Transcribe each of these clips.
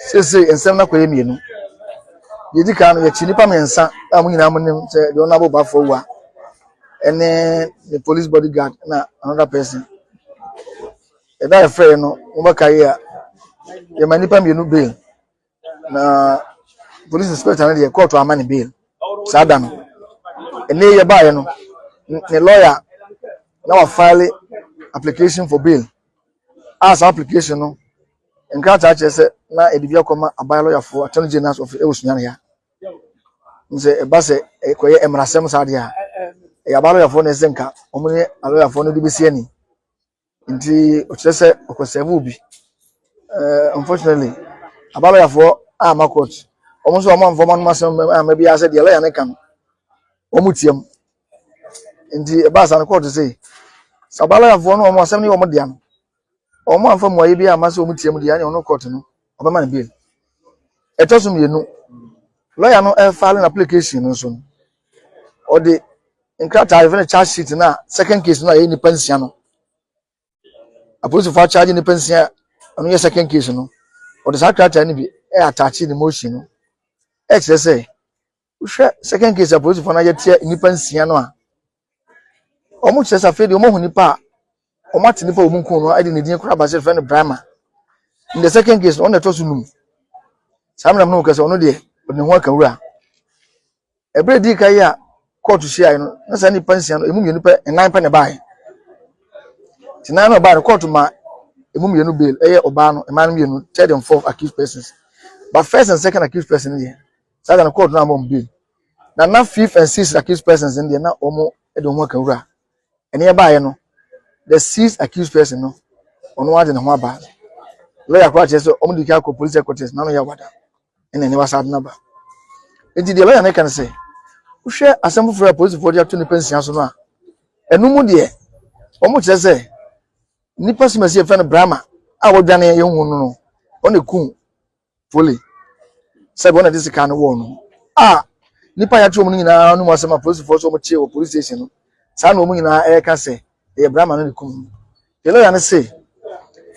Seesei nsɛm no akɔyɛ mmienu. Deɛ ɛdi kan no, yɛakyi nnipa mmiɛnsa a mo nyinaa monim sɛ deɛ ɔno abobafoɔ wua ne ne police bodyguard na another person. Ɛda a yɛfrɛeɛ no, mobɛka yi a, yɛma nnipa mmienu bail na police inspector no deɛ kɔɔto ama ne bail saa da no. Ɛnna yi yɛbaeɛ no, ne lawyer na wafile application for bail a saa application no Nkrataa kyerɛ sɛ na ɛde bi akɔma aban lɔyafoɔ attorney general's office ɛwɔ Sunyani ha sɛ ɛba sɛ ɛkɔyɛ mmarasɛm saa deɛ a ɛyɛ aban lɔyafoɔ na ɛsɛ nka wɔn ne alɔyafoɔ no de bɛsi ani nti ɔkyerɛ sɛ ɔkɔsɛɛve obi eh, unfortunately aban lɔyafoɔ ama court wɔn nso wɔn amfa wɔn anom asɛm ama bi asɛ deɛ lɔya no ka no wɔn tiam nti ɛbaa saa no court sɛ sɛ aban lɔyafoɔ no wɔn asɛm ne wɔn dea no wɔamfa mmuaeɛ bi amma sɛ wɔtia mu deɛ ɛne ɔno kɔɔto no ɔbɛma no bail ɛtɔ so mmienu lɔya no ɛfale no application no nso no ɔde nkrataa yɛfrɛ no charge sheet no a second case no a ɛyɛ nnipa nsia no apolisifoɔ akyagye nnipa nsia ɔno yɛ second case no ɔde saa krataa no bi ɛyɛ atakye ne motion no ɛkyerɛ sɛ Wohwɛ second case apolisifoɔ no ayɛ tia nnipa nsia no a, wɔn kyerɛ sɛ afei deɛ wɔn ahu nipa a wɔn ate nipa a wɔn kun no ɛde ne din kora baasi fɛ no Brahma. In the second case no wɔn na ɛtɔ so num. Saa mmerɛ no kɛ sɛ ɔno deɛ ɔde ne ho aka wura. Ɛberɛ di ka yi a kɔɔto hyiaeɛ no na saa nipa nsia no emu mmienu pɛ nnan pɛ na ɛbaeɛ. Te nan na ɔbaa no kɔɔto ma emu mmienu bail ɛyɛ ɔbaa no mmaa no mmienu third and fourth accused persons. But first and second accused person no deɛ Saa da no court no ammɔ mu bio. Na na fifth and sixth accused persons no deɛ na wɔn de wɔn ho aka wura. Ɛne ɛbaeɛ no, the sixth accused person no, ɔno ara de ne ho aba. Lawyer koraa kyerɛ sɛ wɔn de kan akɔ police headquarters na ano yɛ awada. Ɛna ɛne wasa de no aba. Enti deɛ lawyer no ka no sɛ, wohwɛ asɛm foforɔ a polisifoɔ de ato nnipa nsia so no a, ɛno mu deɛ wɔn kyerɛ sɛ nnipa simasi yɛfrɛ no Brahma a wɔdwane yɛn hu no no, wɔn na ekum Foley sɛ wɔn na ɛde sika no wɔn no a nipa yɛato wɔn nyinaa no mu asɛm a polisifoɔ sɛ wɔtie wɔ polisi station no saa na wɔn nyinaa ɛreka sɛ ɛyɛ brama no ne kum no yɛ lɔya no se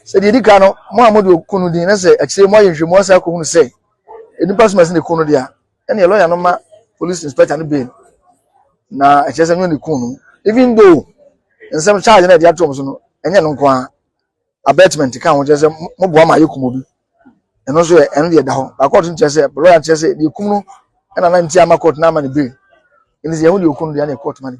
sɛ deɛ ɛdi ka no mo a mode ɔku no din na sɛ akyire mo ayɛ nhwɛmu asa akɔhunu sɛ nnipa soma si ne ku no deɛ a ɛne lɔya no ma police inspector no bail na ɛkyerɛ sɛ ɛnyɛ ne ku no even though nsɛm charge na ɛde ato wɔn so no ɛnyɛ no nko ara Abetment ka ho kyerɛ sɛ moboa ma yɛkum obi. Ɛno nso yɛ ɛno deɛ ɛda hɔ. Ba court no kyerɛ sɛ lawyer no kyerɛ sɛ deɛ ekum no ɛna na nti ama court no ama no bail. Ɛnti sɛ yɛn ho deɛ okum no deɛ ɛna court ma no bail.